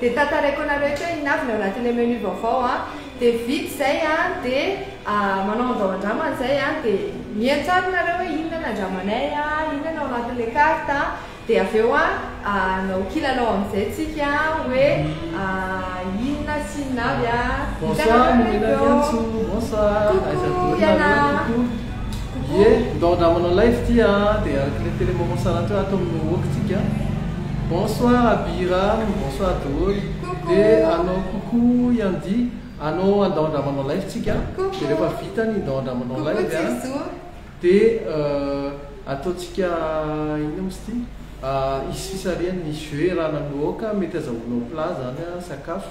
Dia tantaraiko anareo eto hoe inona avy ny ao anatin'ilay menu vaovao an, dia vita izay an, dia manao andao andramana izay an, dia miantsaroka nareo hoe inona no andramanay an, inona no ao anatin'ilay carte an, dia avy eo an hanao kilalao amin'izay tsika hoe inona sy inona avy an, hitanareo nareo eo. Bonsoir, Mena Diantso, bonsoir, aiza daholo nareo, coucou. Ie, ndao ndra manao live ity a, dia araka le tele moment sara teo ato amin'ny Wok tsika. Bonsoir Abiram, bonsoir daholo. Dia anao coucou Yandi, anao andao ndra manao live tsika, dia rehefa vita ny ndao ndra manao live a, dia ataontsika inona moa izy ity, hisy fisarihany ny jeux erana amin'ny Wok, mety azahoanao plat zany a, sakafo.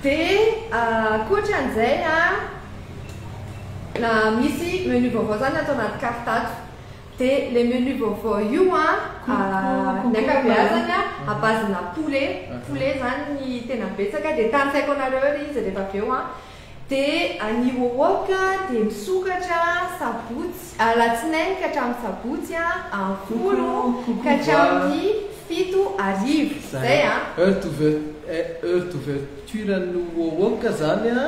Dia ankoatra an'izay an, misy menu vaovao zany ato anaty carte ato. Dia ilay menu vaovao io an, ny ankabeazany an, à base-na poulet, poulet zany ny tena betsaka. Dia tanisaiko anareo ery izy rehefa avy eo an. Dia ny wok dia misokatra sabotsy, Alatsinainy ka hatramin'ny Sabotsy a, amin'ny folo ka hatramin'ny fito hariva. Zay a. Heure d'ouverture, heure d'ouverture an'ny Wowoka zany a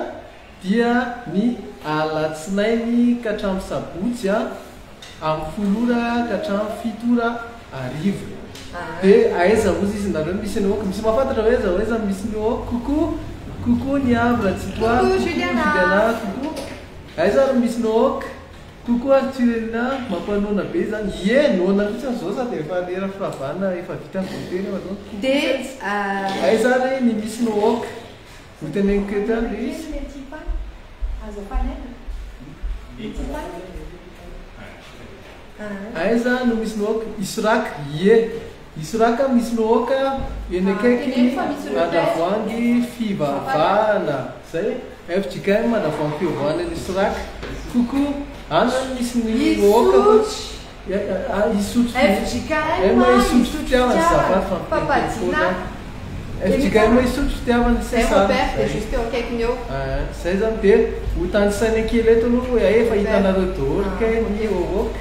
dia ny alatsinainy ka hatramin'ny sabotsy a, amin'ny folo ora ka hatramin'ny fito ora hariva. De aiza ozy izy nareo misy an'i Wowoka? Misy mahafantatra hoe aiza aiza no misy ny Wowoka? Coucou, coucou Niavo Ratsitoavy, coucou Juliana, coucou. Aiza ary no misy ny Wowoka? Koa koa ary tsy renina mampanoana be izany ie noana mihitsy aza zao sady efa lera firavana efa vita avy voatery efa zao koa koa sentsy aiza ary ny misy no ok ho teneniko eto ihany le izy aiza no misy no ok isorac ie Hisy raka misy lohoka eny akaiky ny Andravoahangy fivavahana zay e! fjkm Andravoahangy fivavahana nisy raka! coucou Any any misy ny lohoka fa tsy Isotry fjkm Isotry fitiavana zafady fa miteny teny foana aho fjkm Isotry fitiavana sy sazy aa zay zany dia hotanisaina kely eto aloha hoe hay efa hitanareo daholo kay ny lohoka.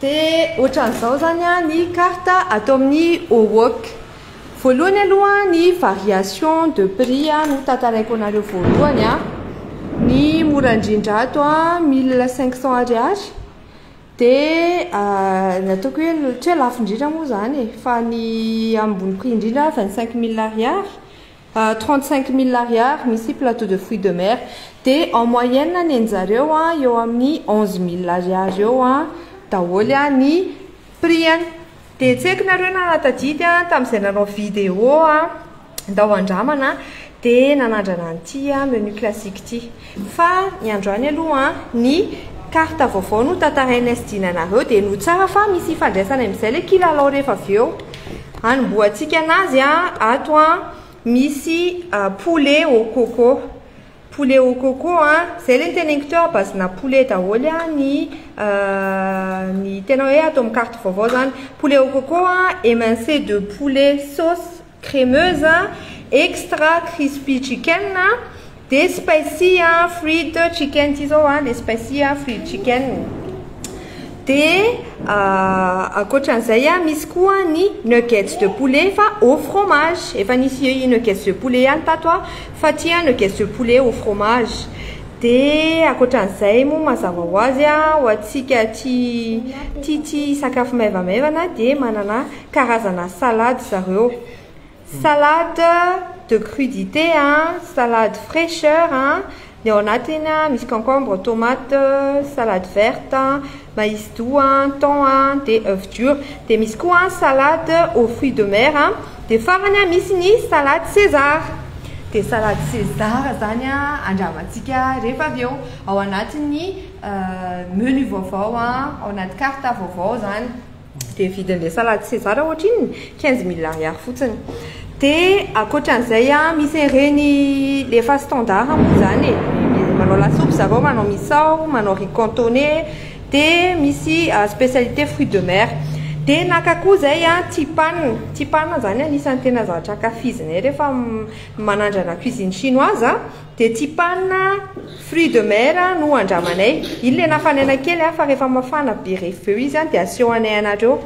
Dia ohatran'izao zany a ny carte ato amin'ny OWOC. Voalohany aloha ny variation de prix a no tantaraiko anareo voalohany a. Ny mora indrindra ato a 1500 ariary. Dia ny ataoko hoe ohatra hoe lafo indrindra moa zany e, fa ny ambony prix indrindra 25000 ariary. Trente cinq mille ariary misy plateau de fruits de mer dia en moyenne nenjareo an eo amin'ny onze mille ariary eo an daholo an ny prix an dia tsy haiko nareo nanatadidy an tamin'izay nanao video an ndao handramana dia nanandrana an'ity menu classique ity Fa ny androany aloha ny carte vaovao no tantarainay sy dinanareo dia no tsara fa misy ifandraisany amin'izay ilay kilalao rehefa avy eo. Hanombohantsika anazy ato an, misy poulet au coco, poulet au coco an, izay ilay noteneniko teo à base-na poulet daholo ny ny tena hoe ato amin'ny carte vaovao izany. Poulet au coco an, émincé de poulet sauce crémeuse, extra crispy chicken, dia spicy fried chicken ity izao an, ilay spicy fried chicken, dia ankoatra an'izay an, misy koa ny nuggets de poulet fa au fromage, efa nisy nuggets de poulet ihany tato aho fa ity an nuggets de poulet au fromage, dia ankoatra an'izay moa mazava ho azy an, ho antsika tia tia sakafo maivamaivana dia manana karazana salade zareo. Salade de crudité an, salade fraicheur an, ny ao anatiny an misy concombre, tomate, salade verte an, maïs doux an, thon an, dia oeuf dur. Dia misy koa an salade aux fruits de mer an, dia farany an misy ny salade César. Dia salade César izany an andramantsika rehefa avy eo ao anatin'ny menu vaovao an, ao anaty carte vaovao izany. Dia vidiny le salade César ohatra inona? Quinze mille ariary fotsiny. Dia ankoatran'izay an, misy an'ireny le efa standard moa izany e. Manao lasopy zareo, manao misao, manao riz cantonais, dia misy spécialité fruits de mer. Dia naka koa izay an, tipan. Tipan izany anisan'ny tena zavatra ankafizinay rehefa manandrana cuisine chinoise. Dia tsy panina fruits de mer no andramanay. Iny le nafanaina kely an, fa rehefa mafana be reveu izy an dia asehoanay anareo.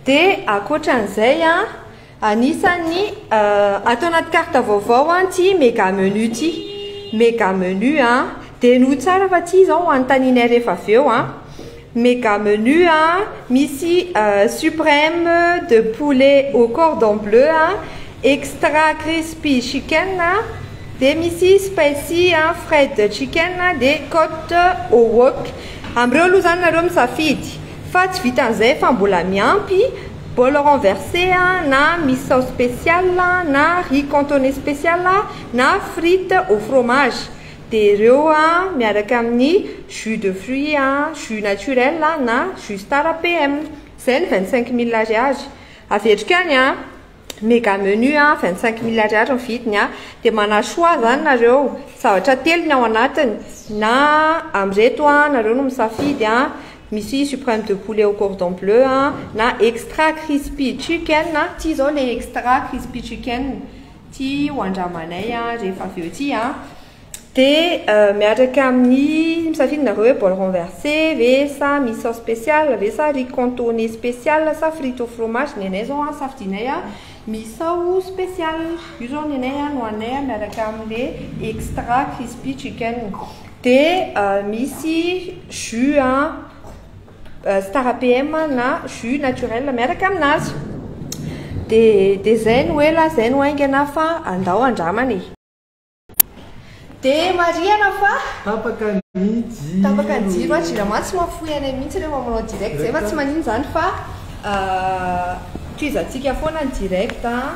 Dia ankoatran'izay an, anisan'ny ato anaty carte vaovao an ity mega menu ity. Mega menu an, dia enoy tsara fa tsy izao no anontanianay rehefa avy eo an. Mega menu a, misy supreme de poulet au cordon bleu a, extra crispy chicken a, dia misy spicy a, fried chicken a, dia cote au wok. Amin'ireo aloha izany nareo misafidy fa tsy vitan'izay fa mbola miampy bol renverse a, na misao special a, na riz cantonais special a, na frite au fromage. Dia ireo miaraka amin'ny jus de fruit jus naturel na jus star PM. Izay ny vingt cinq mille ariary. Averiko any an, mega menu vingt cinq mille ariary ny vidiny. Dia manà choix izany nareo, zavatra telo ny ao anatiny, na amin'ireto nareo no misafidy, misy supreme de poulet au cordon bleu na extra crispy chicken, ity izao ilay extra crispy chicken. Ty ho andramanay a rehefa avy eo ty a. Dia miaraka amin'ny misafidy nareo hoe bol renverse ve sa misy sauce speciale ve sa riz contourné speciale sa frite au fromage ny anay zao a safidinay a misao speciale io zao ny anay a no haninay a miaraka amle extra crispy chicken dia misy jus a Star PM na jus naturel miaraka aminazy. Dia dia zay no ela, zay no haingana fa andao andramana e. Dia marihana fa Tapaka ny jiro. Tapaka ny jiro an, jirama tsy mahafoy anay mihitsy rehefa manao direct zay fa tsy maninona izany fa tohizantsika foana ny direct an.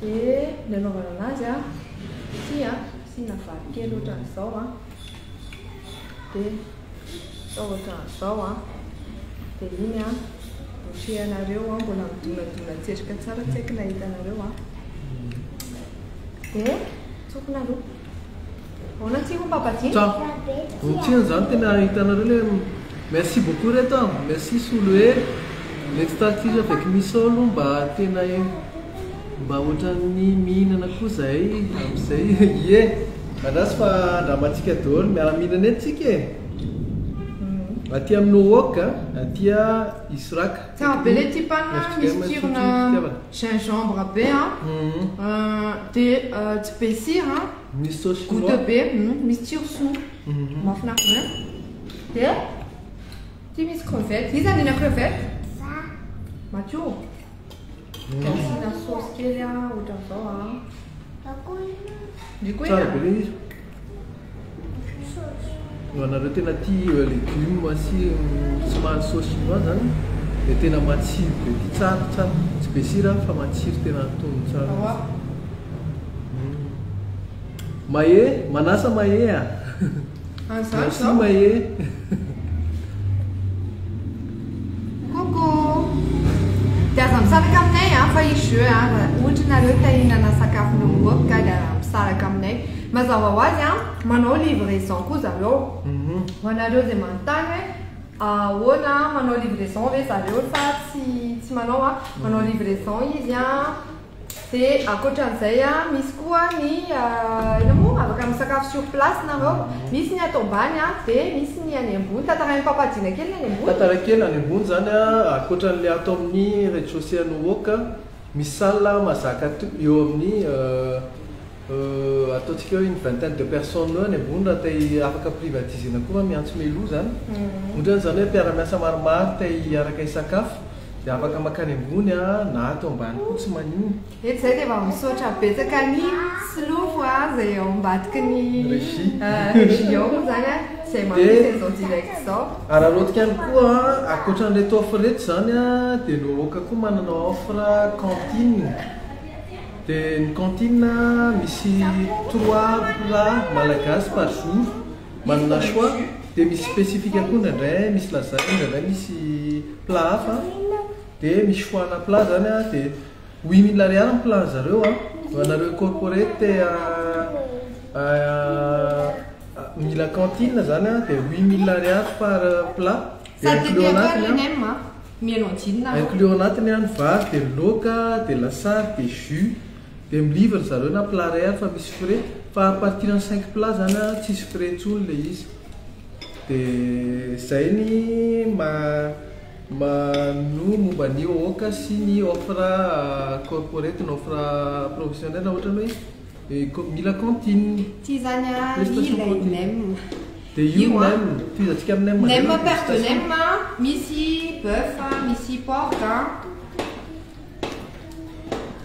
Dia ny anaovana anazy a, ity a, asiana vary kely ohatran'izao a, dia atao ohatran'izao a, dia iny a, boucher-nareo a, mbola midonadona tselika tsara tsy haiko na hitanareo a, dia tsofina aloha. Ahoana atsika hoy papa Jay? Tsa. Ny tsy heno zany tena hitanareo le merci beaucoup reto a merci solo e le tsy tarkis avec miso aloha mba tena mba otran'ny mihinana koa zahay amzay ie andraso fa andramantsika daholo miara mihinana eto tsika e aty amin'Ohok aty a Israk Tsara be le tip an, misy tsirona gingembre be an, de tsy be sira an, goute be, misy tsiro soa, mafinaritra be. De ty misy crevette, iza nina crevette? Za. Matio? De asiana sauce kely an, ohatran'izao an. Tsara be le izy. Ho anareo tena tia legume sy somary sauce chinoise zany dia tena matsiro be ity tsara tsara tsy be sira fa matsiro tena antonony tsara Mahe manasa Mahe a merci Mahe Coucou! Dia aza misaraka aminay an fa hisy jeux an, raha ohatra ianareo te hihinana sakafo nohomboka dia aza misaraka aminay. Mazava ho azy an, manao livraison koa zareo. Ho anareo izay manontany hoe ahoana an, manao livraison ve zareo sa tsy tsy manao an, manao livraison izy an. Dia ankoatran'izay a, misy koa ny inona moa? Afaka misakafo sur place nareo. Misy ny ato ambany a, dia misy ny any ambony. Tantarain'i Papa Jina kely ny any ambony. Tantaraiko kely any ambony izany a, ankoatran'ilay ato amin'ny rez-de-chaussée an'Owoc a, misy salle mahazaka eo amin'ny. Euh ataontsika hoe une vingtaine de personnes eo any ambony raha te afaka privatiser-na koa va miantso Melo zany? Otrany zany hoe mpiara-miasa maromaro te hiaraka hisakafo de afaka makany ambony a, na ato ambany koa tsy manino. Eto zay de efa misaotra betsaka ny solofo a zay ao ambadiky ny regie ao moa zany a zay mampisy an'izao direct zao. Araraotika ihany koa a, ankoatran'ireto offre reto zany a de ny Hohoka koa manana offre cantine. Dia ny cantine misy trois plats malagasy par jour, manana choix, dia misy spécifique koa indraindray misy lasagne indraindray misy plat hafa, dia misy choix ana plat zany an, dia huit mille ariary ny plat an'zareo an, ho anareo corporate te mila cantine zany an dia huit mille ariary par plat, dia inclus ao anatiny an. Mihaino anjinina aho. Inclus ao anatiny an, ny vary, dia ny loaka, dia ny lasary, dia jus. Dia mi-livre ry zareo na plat iray ary fa misy frais. Fa à partir ny cinq plats izany an, tsisy frais intsony ilay izy. Dia izay ny maha-no momba ny OOCA sy ny offre corporate na offre professionnelle ohatran'ny hoe. Et ko mila cantine. Tsy izany ah ilay nem. Dia io nem, tohizantsika amin'ny nem. Nem paire de nem a, misy boeuf a, misy porc a.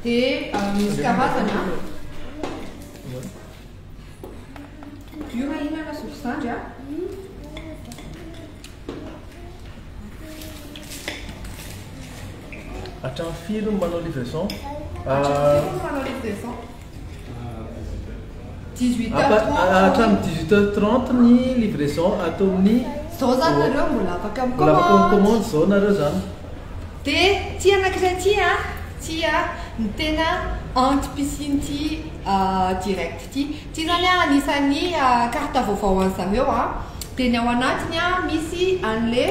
Dia misy karazany a. Io raha inona lasopy zandry a. Hatramin'ny firy no manao livraison? Hatramin'ny firy no manao livraison? Hatramin'ny 18 heures 30 ny livraison ato amin'ny Zao zany nareo mbola afaka mikomandy. Mbola afaka mikomandy zao nareo zany. Dia ity anankiray ity a, ity a, ny tena anti-piscine ity direct ity. Ity zany an anisan'ny carte vaovao an'i Zameo an, dia ny ao anatiny an misy an'le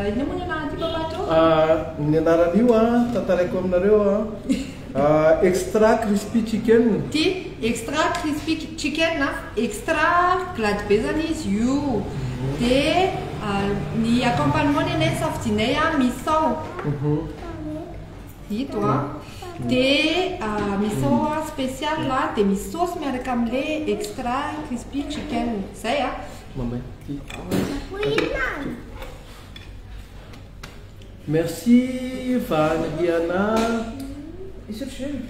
inona moa ny anaran'ity papa to? Ahh ny anaran'io an tantaraiko aminareo an extra crispy chicken. Ity extra crispy chicken an, extra glady be zany izy io, dia ny accompagnement ny anay ny safidianay an misao. Ito a. Dia misao a spécial a dia misy sauce miaraka amle extra crispy chicken. Zay a. Mamay. Merci Vahany Riana. Misotro jus.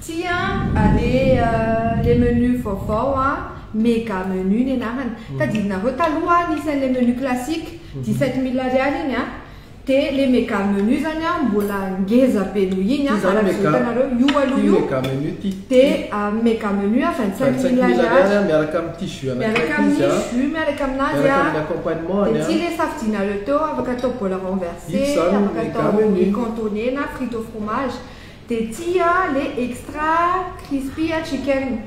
Tsia aleha le menu vaovao an, mega menu ny anarany. Tadidinareo taloha an nisy an'ilay menu classique dix sept mille ariary iny an, dia le mega menu zany an mbola ngeza be noho iny an araka izao hitanareo io aloha io dia mega menu an vingt cinq mille ariary miaraka amin'ny tissu miaraka aminazy an, dia tsia le safidinareo teo afaka atao bola renverse, afaka atao riz cantonné na frite au fromage, Dia tia le extra crispy chicken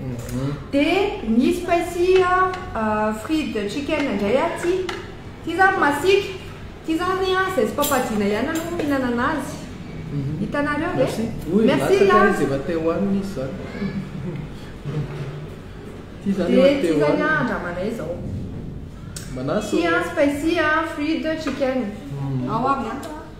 dia ny spicy fried chicken indray aho tia tia zany masiaka tia zany izay tsy papajiana ihany aloha no mihinana anazy hitanareo ve merci an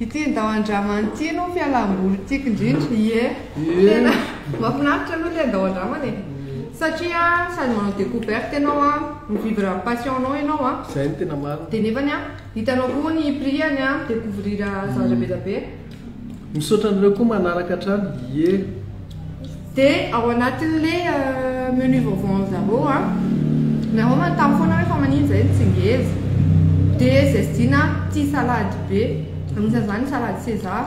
Ity ndao andrama an'ity no fialamboly tiako indrindra, ie tena mafinaritra aloha le ndao andramana e, satria sady manao decouverte ianao an, mi-vivre ny passion nao ianao an, Zay no tena marina. de nefany an hitanao koa ny prix-any an, mi-decouvrir zavatra be da be. Misaotra anareo koa manaraka hatrany, ie. De ao anatinle menu vaovao anzareo a, nareo manontany foana hoe fa manino zay ny tsy ngeza? de zay tsy dina a tia salady be, anisan'izany ny salady César,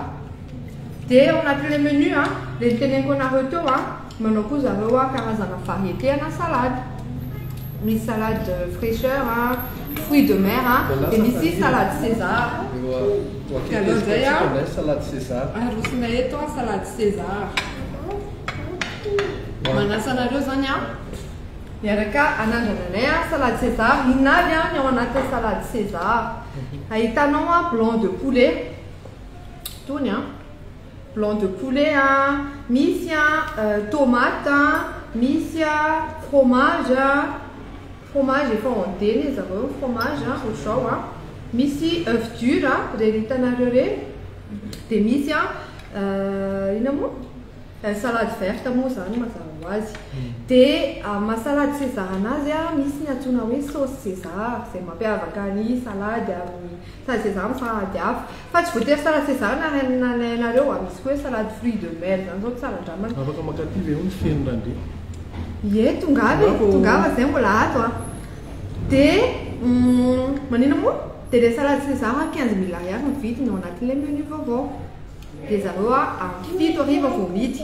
de ao anatinle menu a le niteneniko anareo teo a manao koa zareo a karazana variété ana salady, misy salade fraîcheur a, fruits de mer a, de misy salady César. Diallo izay an! Arosona eto an salade César. Manasa anareo zany an! Miaraka anandrana anay an salade César. Inona avy an ny ao anatin'ny salade César? Ahitanao an blanc de poulet, tony an, blanc de poulet an, misy an tomate an, misy an fromage an, Fromage efa en D ne zareo ny fromage a ho zao a misy oeuf dur a reny hitanareo reny de misy a inona moa eh salade verte moa zany mazava ho azy de amin'ny maha salade sezara anazy a misy ny antsoina hoe sauce sezara zay mampiavaka ny salade amin'ny Sazy izany sahady avy. Fa tsy voatery salade César na ny anay na ny anareo a. Misy koa hoe salade fruits de mer izany izao tsara andramana. Afaka mankaty ve ony feno randria? Ie, tongava e, tongava zay mbola ato a. Dia maninona moa? Dia ilay salade César quinze mille ariary no vidiny ao anatin'ilay menu vaovao. Dia zareo a, am fito hariva vao mihidy.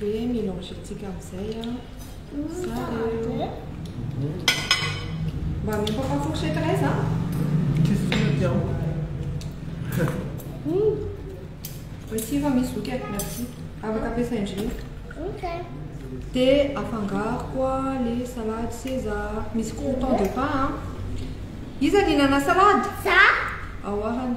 dia mélanger tsika amizay zareo. Mba ameo papa fourchette iray za. Voici efa misy zoky e, merci. Afaka ampiasaina indrindra. Ok. Dia afangaro koa le salade seza. Misy crouton de pain a. Iza ny nanana salade? Za. Aoarany.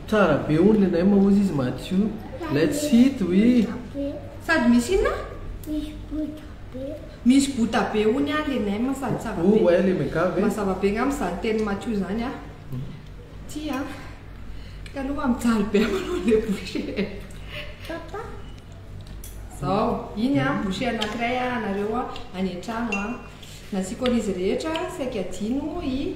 Tsara be hono le naima ozy izy madio. Let's hit oui. Sady misy inona? Misy bota be. Misy bota be hono an le naima sady tsara be. Oa le mega ve? Mazava be ngamba zany tenin'i Matio zany an. Ty an. Taloha mijaly be manao le boucher e. Papa. Zao, iny an boucher anakiray an anareo an any an-trano an. Nasiako an'izy rehetra saika adino i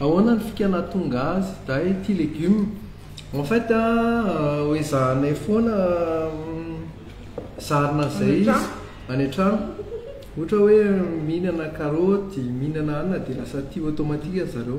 Ahoana ny fika nahatonga azy dahy tia legume? En fait a, ho ezahanay foana zarina an'izay izy any an-trano. Ohatra hoe mihinana karaoty, mihinana anana dia lasa tia automatique zareo.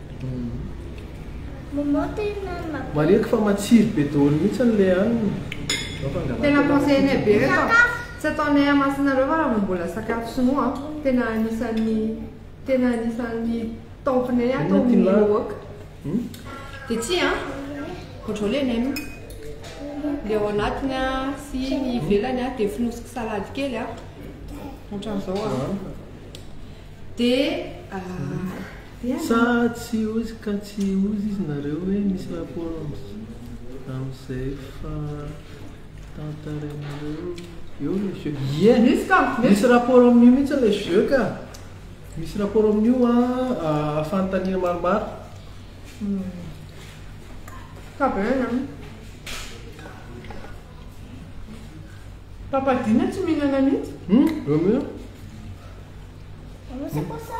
Marihiko fa matsiro be daholo mihitsy ny le hanina. Tena conseille nay be reto a! Tsy ataonay hamasinareo fa raha vao mbola sakafo sinoa a! Tena anisan'ny tena anisan'ny top nay ato amin'ny Ewok. Dia ity a! Contrôler nay moa. Le ao anatiny a sy ny ivelany a dia fonosiko salady kely a! Ohatran'izao a! Dia. Sa tsy ozy ka tsy ozy izy nareo hoe misy rapport amin'izay fa tantarainareo eo le jeux? Ie misy ka! Misy rapport amin'io mihitsy le jeux ka! Misy rapport amin'io an fanontaniana maromaro. Ka be ny an. Papa Dina tsy mihinana mihitsy. Hum! Romeo. Anao sy kosa.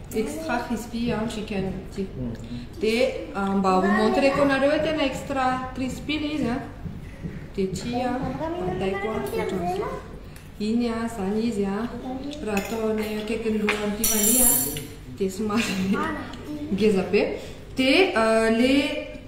Extra crispy an chicken ity. Dia mba ho montreko anareo hoe tena extra crispy ilay izy an. Dia ity an, ataiko an, ohatran'izao. Iny an, izany izy an, raha atao any akaikin'ny lohan'ny Tiffany an, dia somary ngeza be. Dia ilay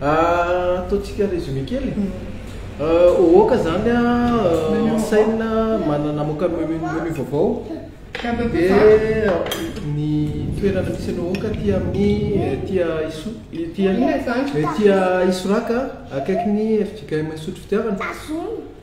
Ataontsika résumé kely. Ohoka zany an, Seine manana namoaka menu menu vaovao dia ny toerana misy an'i Ohoka aty amin'ny aty Iso- aty Isoraka akaikin'ny FJKM Isotry Fitiavana.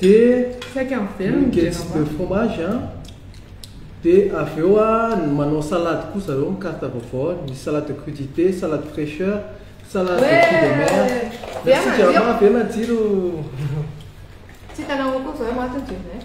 dia nuggets de fromage an, dia avy eo an, manao salade koa zareo amin'ny carte vaovao an, misy salade de crudité, salade fraîcheur, salade de fruits de mer, merci Jama, be matsiro. Tsy hitanao akory zao eh, maty ny jeunes eh.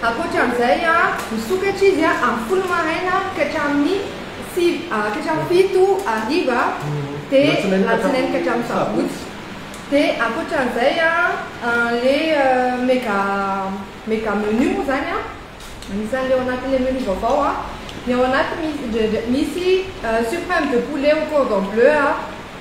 Ankoatra an'izay, misokatra izy amin'ny folo maraina ka hatramin'ny fito hariva, dia alatsinainy ka hatramin'ny sabotsy. Dia ankoatra an'izay, ilay mega mega menu moa izany, anisan'ilay ao anatin'ilay menu vaovao, ny ao anatiny misy sur prime de poulet au cordon bleu,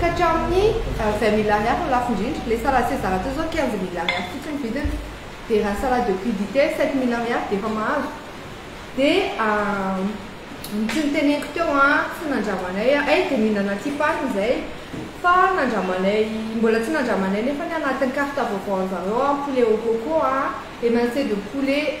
Ka hatramin'ny izay milliards ary no lafo indrindra. Ilay salade césar teo izao quinze milliards ary fotsiny ny vidiny. Dia raha ny salade de crudité sept milliards dia efa mahazo. Dia ny tsy noteneniko teo an, tsy nandramanay an, hay dia nihinana tsipany izay fa nandramanay, mbola tsy nandramanay nefa ny anatin'ny carte vaovaon'izareo an, poulet au coco an, émincé de poulet,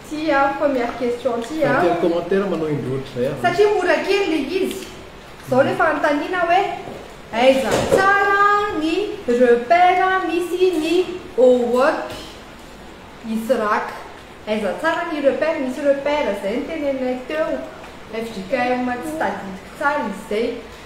Tsia aho fa miafy question tsia a. Tsy mety commentaire manao indro ohatr'izay aho. Satria mora kely le izy. Zao le fanontaniana hoe aiza tsara ny repère misy ny owork israk. Aiza tsara ny repère misy repère zay no teneninay teo. Fjkm tsy tadidiko tsara izy zay.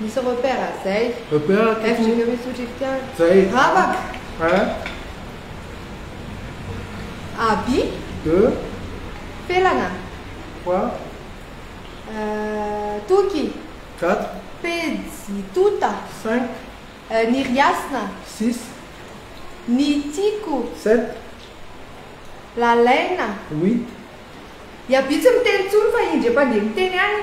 Misy repère zay. Repère ty. F jereo misy ohatry fitiavana. Zay. Rabaka. Hein? Abi. De. Felana. Quoi? Euh, Toky. Quatre. Pejy tota. Cinq. Euh, ny riasina. Six. Ny tiko. Sept. Lalaina. Huit. I Abi tsy miteny tsony fa indry efa ndeha miteny any.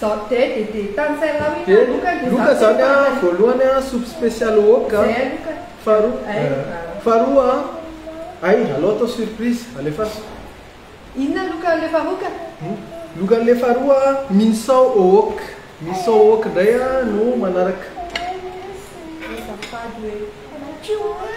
Zao de de de tantsainao iny a Loka de Loka zany a voalohany a soupe special wok a faharoa faharoa a ay alao atao surprise alefaso Inona Loka le faharoa ka? Loka le faharoa a minsao wok minsao wok ndray a no manaraka. Azafady hoe.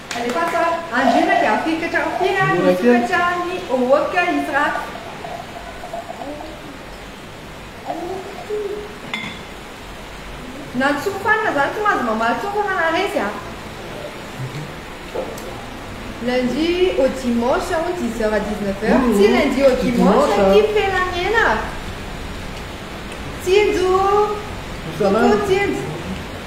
Alefaso a! Andriana dia hafilotra hatramin'ny firy ary hitokatra any Ohoka izy raha. Na tsy ho fanina zany tsy mahazo mamaly tsony fa manaresy a! Lundi au dimanche aho 10 heures à 19 heures tsy lundi au dimanche ity firenamiena a! Tsinjo! Coucou Tsinjo!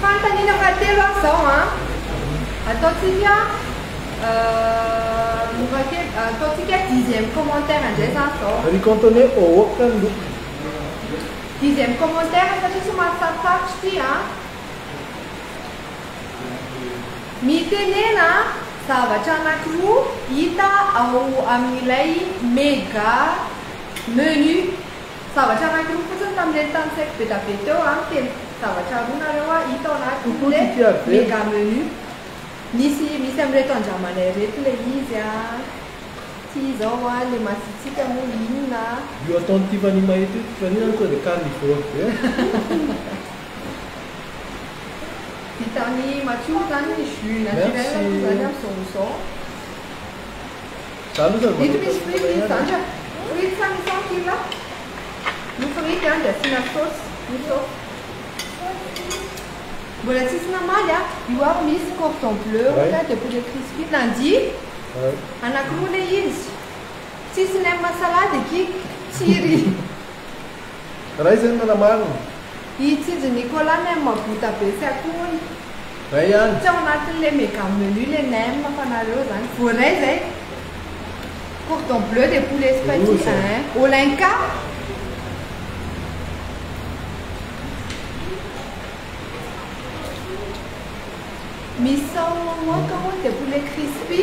Fanontaniana fahatelo an zao an. Ataontsika mora kely ataontsika dixième commentaire indray zany zao. Ry Cantone ohoka ny lokony. Dixième commentaire satria somary sarotsarotra ity an. Mitenena zavatra anankiroa hita ao amin'ilay mega menu. Zavatra anankiroa fotsiny tamin'ireny tany saiko bedabe teo an, teny zavatra roa nareo an, hita ao anatiny le mega menu. Misy misy amin'ireto andramanay ireto le izy an, ty zao an, le masitsika moa inona an. Io ataon'i Tiffany mahita io Tiffany zany tonga de carnivore be an. Vitan'i Mathiou zany ny jus naturel moa zany amzao amzao. Zany osa mba nataony foana ihany. Frity sa misao ny kila? Ny frity an dia asiana saosy misao. Mbola tsisy namaly a. Io ary misy cordon bleu ohatra dia poulet crispy. Nandia? Anakiroa ilay izy. Tsisy nem salade eky. Tsiry. Ray zay no nanamarina. I Tsinjo Nicolas nem mahavita be tsy akoho hono. Ray ihany. Tsy ao anatin'le mega menu le nem fa nareo zany. Voaray izay. Cordon bleu dia poulet spati eeh. Olenka. Misao moaka hono dia poulet crispy.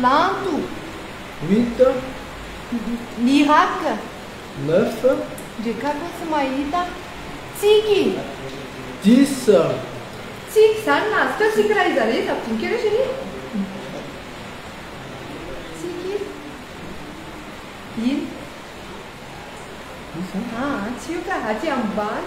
Lanto. Huit ans. Miracle. Neuf ans. Ndreka akoho tsy mahita. Tsiky. Dix ans. Tsiky zany na azokao tsiky raha iza re iza boky re chérie Tsiky Ino? Iza? Ah, tsy io ka, aty ambany.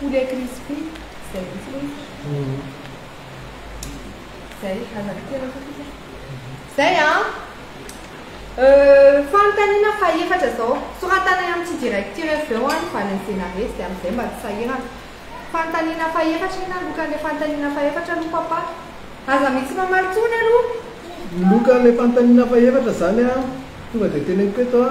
Poulet crispy zay vitsy loatra zay aza vidiana koa sisa zay a fanontaniana fahefatra zao soratanay amin'ity direct ity ref eo a ny valin'ny zenaretsy dia amin'izay mba tsy sahirana fanontaniana fahefatra inona ny lokan'ilay fanontaniana fahefatra aloha papa aza mitsy mamaly tsony aloha ny lokan'ilay fanontaniana fahefatra zany a tonga dia teneniko eto a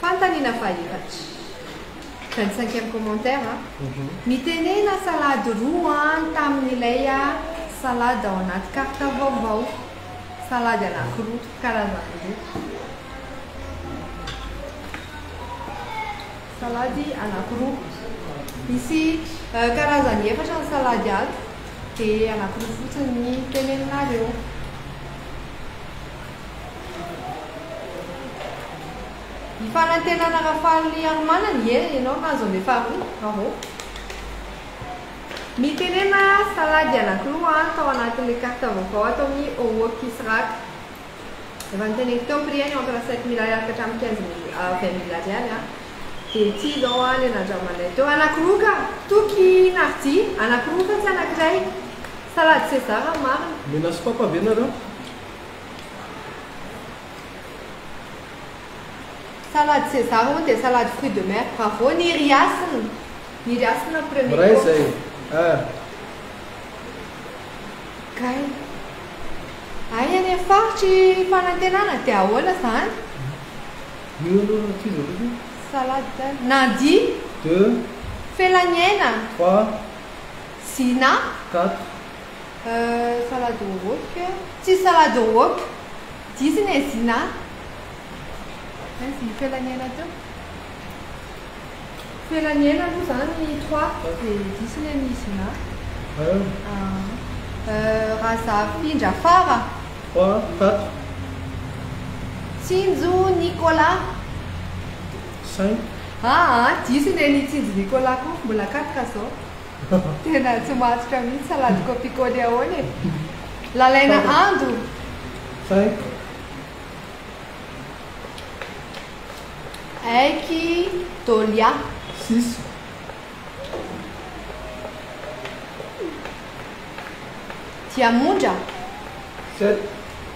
Fantany na fahitatra. Vingt cinquième commentaire a. Mitenena salade roa an tamin'ilay a salade ao anaty carte vaovao. Salady anakiroa, karazany roa. Salady anakiroa. Misy karazany efatra ny salady ato dia anakiroa fotsiny ny teneninareo. I Fanantenana Rafahalimarimanana ie ianao nahazo an'ilay faharoa, bravo. Mitenena salady anankiroa an tao anatin'ilay carte vaovao ato amin'ny Ookisrak. Efa noteneniko teo ny prix-ny entre sept mille ariary ka hatramin'ny quinze mille à vingt mille ariary an. Dia ity izao an ilay nandramanay teo, anankiroa ka! Toky Narji, anankiroa fa tsy anankiray. Salady César ny marina. Mena sy papa ve nareo? Salade César hono dia salade fruit de mer. Bravo Niry Hasina. Niry Hasina premier Miray course. zay ah. Kay. Ay any amin'ny faritry fanantenana dia ahoana zany? Io aloha no tizo aloha. Salade Nandi, Deux, Felaniaina, trois, Zina. quatre. Salade wok. Tsisy salade wok. Diso i Nezina a. Aiza i Felaniaina teo? Felaniaina aloha izany trois dia diso ny an'i Nizina. Razafindrafara. Trois, quatre. Tsinjo Nicolas. Cinq. Aa diso ny an'i Tsinjo Nicolas koa. Mbola quatre izao. Tena tsy matotra mihitsy salade kopikole ahoana e? Lalaina ando! Aiky Dolia! Siso! Diamondra! Sept!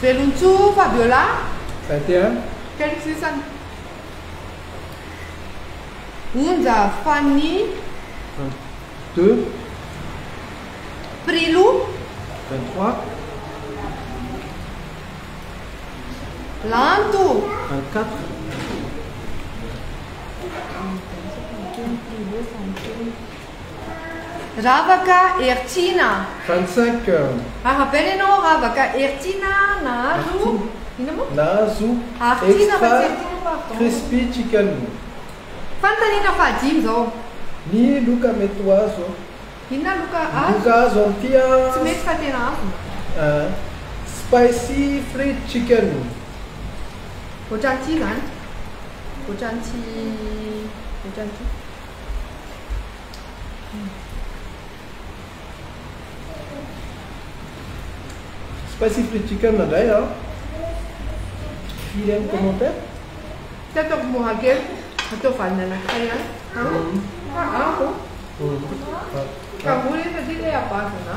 Velon-tsoa Fabiola a! Kely sisany. Onja Fanny de. Prilou. Lanto. Ravaka Hertiana a! Hantsaka a! Arabaina ianao Ravaka Hertiana a! Nahazo, inona moa? Nahazo Extra Crispy Chicken. Fanontaniana fahadimy izao. Ny loka mety ho azo a! Inona loka azo? Ny loka azo amin'ity a! Tsy mety fa tena azo. A! Spicy Fried Chicken. Ohatran'ity izany. Ohatran'ity. Ohatran'ity. Specific chicken indray an. Firy any commentaire? Tsy ataovy mora kely, atao vaniny anankiray ihany. Fa avo. Ka avo ilay satria ilay à base na.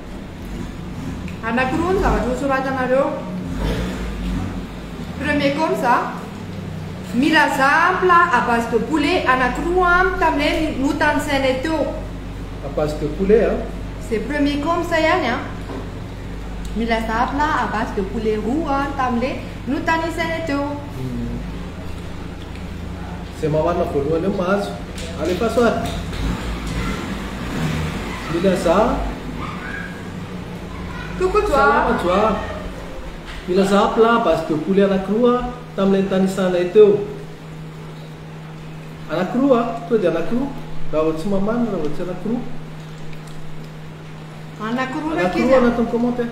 Anakiroa ny zavatra nosoratanareo. Premier com za. Milaza plat à base de poulet anakiroa amiko tamin'ilay notanisainay teo. À base de poulet a? Izay premier com sa ihany a? Milaza plat à base de poulet roa tamin'ilay notanisainay teo. Izay mamarina voalohany eo mahazo. Alefaso ary. Mila za. Coucou Joa. Salama Joa. Mila za plat base de poulet anakiroa tamin'ilay nitanisanay teo. Anakiroa, tonga dia anakiroa. Raha vao tsy mamarina, raha vao tsy anakiroa. Anakiroa raha kely a. Anakiroa anatin'ny commentaire.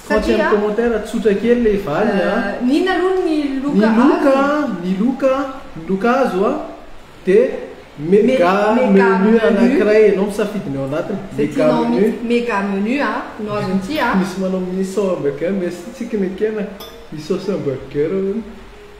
Fa tsy amin'ny commentaire tsotra kely ilay valiny a. N'inona aloha ny loka azo? Ny loka, ny loka, ny loka azo a dia mega menu anankiray ianao misafidy ny ao anatiny. Izay tianao mihitsy. Mega menu a no azon'ity a. Misy manao miso hamburger, merci tsy kinekena. Miso sy hamburger hono.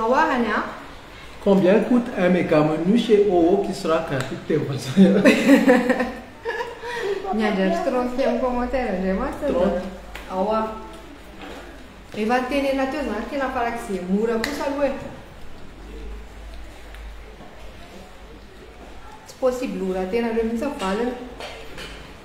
Ahoa any an? Combien coute un mega menu chez oo qui sera gratuit teny vazaha. Miandry andro trente eo commentaire ndray mantsy za. Trente. Ahoa? Efa nitenenina teo zany tena farak'izay mora kosa aloha e. Tsy possible ho rahatenareo mihitsy ny valiny.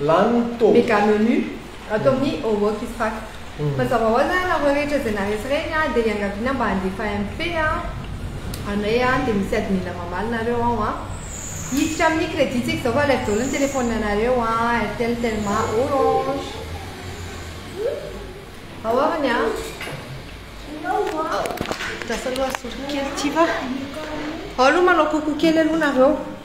Lany ny taovy. Mega menu ato amin'ny Homework is Fact. Mazava ho azy ary nareo rehetra izay naharesy ireny an, dia iangaviana mba handefa MP an, anay an, dia misy admin mamaly nareo ao an. Hiditra amin'ny credit tsika izao fa alaivo daholo ny telephone anareo an, Airtel, Telma, Orange. Ao ary ny an. Lasa aloha asolo kely ity va. Ao aloha manao coucou kely aloha nareo.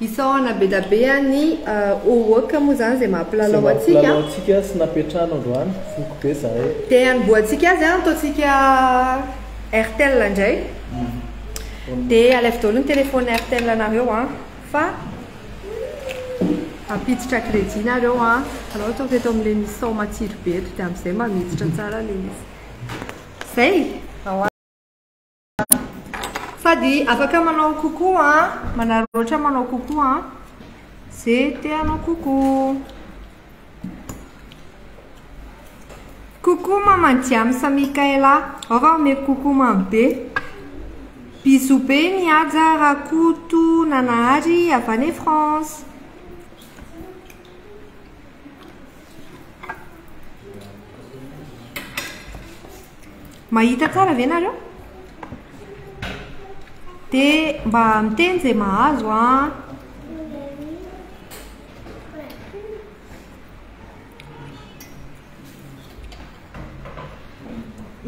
Isaorana bedabea ny Owoc moa izany izay maha mpilalao antsika. Izay maha mpilalao antsika sy napetrahana androany, voky be zahay. Dia hanombohantsika azy an, ataontsika Airtel indray. Dia alaivo daholo ny téléphone Airtel anareo an, fa hampiditra crédit nareo an, hitanao ataovy eto amin'ilay misy sao matsiro be eto dia amin'izay mba miditra tsara ilay izy. Izay! Sady afaka manao coucou a, ah. manararaotra manao coucou a, ah. ze te hanao coucou. Coucou maman Diam sa Michaela, ao va omeko coucou mamy be. Bisous be ny Haja Rakoto Nanahary avy any France. Mahita tsara ve nareo? De mba miteny izay mahazo an!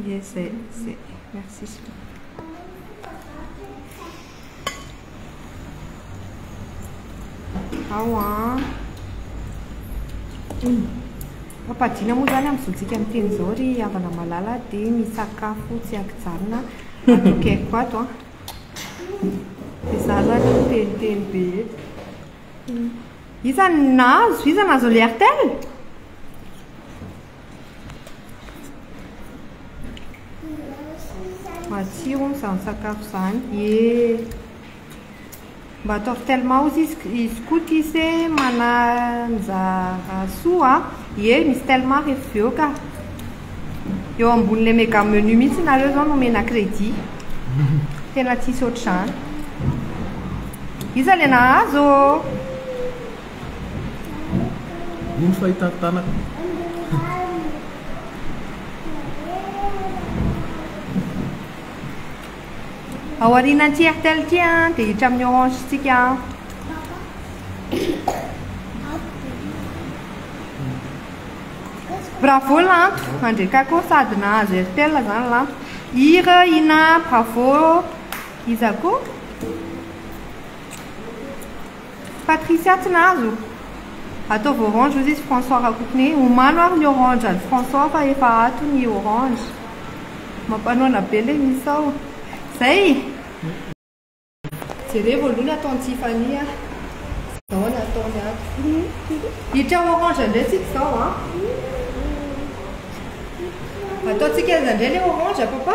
Yes, c'est, c'est. Merci. Ao an. Mampadiana moa zany amin'izontsika miteny izao ry havana malala dia ny sakafo tsy ankijanona atokeko ato an. Dia za zany miteniteny be eto. Iza no nahazo? Iza nahazo ilay Airtel? Matsiro hono izany sakafo izany. Ye. Mba atao tellement ozy izy izy koa ty se mananja soa. Ye, misy tellement rehefa avy eo ka. Eo ambonin'ilay mega menu mihitsy nareo zao no mena crédit. Tena tsisy ohatr'izany. Iza le nahazo? Iny fahitako tanako. Ao aorianan'ity Airtel ity a, dia hiditra amin'ny Orange tsika a. Bravo Lanto, andreka koa sady nahazo Airtel zany Lanto. Ira, Ina, bravo. Iza koa? Patricia tsy nahazo? Ataovy orange ozy izy François Rakotoné omano ary ny orange an'i François fa efa ato ny orange. Mampanoana be le misao. Zay! Jerevo aloha ny ataon'i Tiffany a. Zao ny ataony ato. Hitra orange ndray tsika zao a. Ataontsika aiza ndray le orange papa?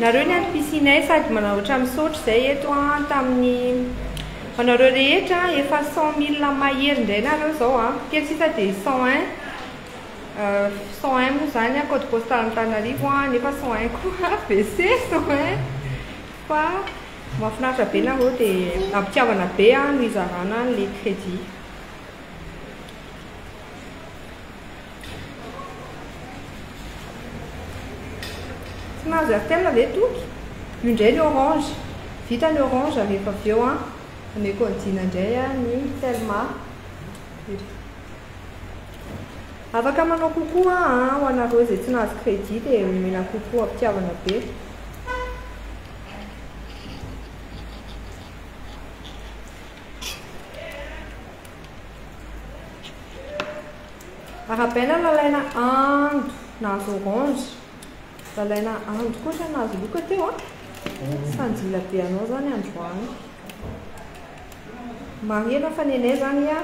Nareo ny ato piscinay sady manaotra misaotra zay eto a tamin'ny anareo rehetra a efa cent mille mahery ndray nareo zao a kely sisa de cent un cent un moa zany a code postal antananarivo a nefa cent un koa WC cent un fa mafinaritra be nareo de ampitiavana be a no izarana anle credit Tsy mahazo Airtel ve Toky? Io indray ny orange. Vita ny orange rehefa avy eo an. Ameko an'i Jina indray an ny telma. Afaka manao coucou an an ho anareo izay tsy nahazo credit dia omena coucou am-pitiavana be. Arabella lalaina ando nahazo orange. Lalaina ando koa zany nahazo loka teo a. Ah. Sanjila be anao zany androany. Marihana fa nenay zany a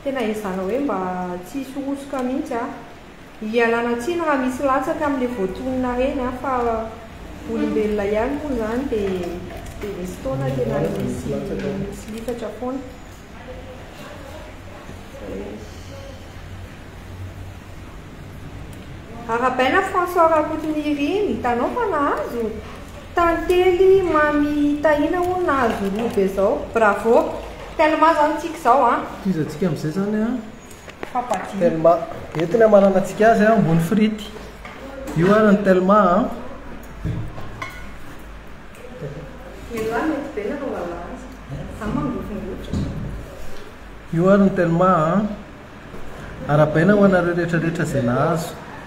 tena ezahana hoe mba tsy hisorosoka mihitsy a. Ialana tsiny raha misy latsaka amin'ilay voatonona reny an, fa olombelona ihany moa izany dia dia misy fotoana tena misy tsy lifatra foana. Arabaina François Rakotonirina, hitanao fa nahazo? Tantely Mamy Tahina hono nahazo robe zao. Bravo. Tellement zany tsika zao an. Tohizantsika amin'izay zany an. Telma, eto ny hamaranantsika azy an, ambony frity. Io ary ny telma an. Io ary ny telma an. Arabaina ho anareo rehetrarehetra izay nahazo.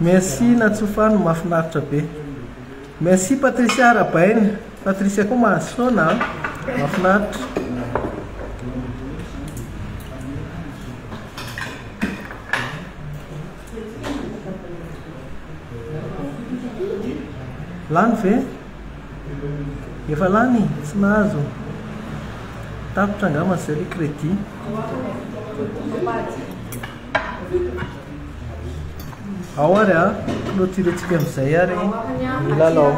Merci Natsofano, mahafinaritra be. Merci Patricia Arabaina. Patricia koa mahazo foana, mahafinaritra. Lany ve? Efa lany, tsy nahazo. Tapitra angamba zay le crédit. Ao ary a, clôture tsika amizay ary ny lalao.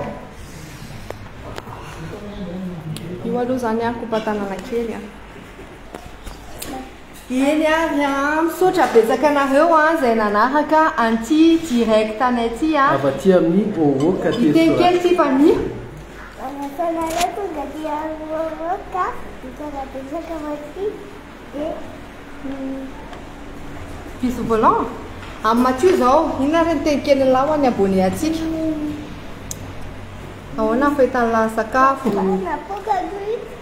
Io aloha zany a kopa tanana kely a. Eny ary an! Misaotra betsaka anareo an izay nanaraka an'ity direct anay ity an! Avy aty amin'ny Oro Cathedral. Hiteny kely Tiffany. Manasanareo tonga aty amin'ny Oro ka mitondra betsaka Mathieu dia Bisous volant amin'i Mathieu izao. Inona ary ny teny kelin'lah ho an'ny abonné antsika? Ahoana ny fetan'lah sakafo? Napoaka aloha i.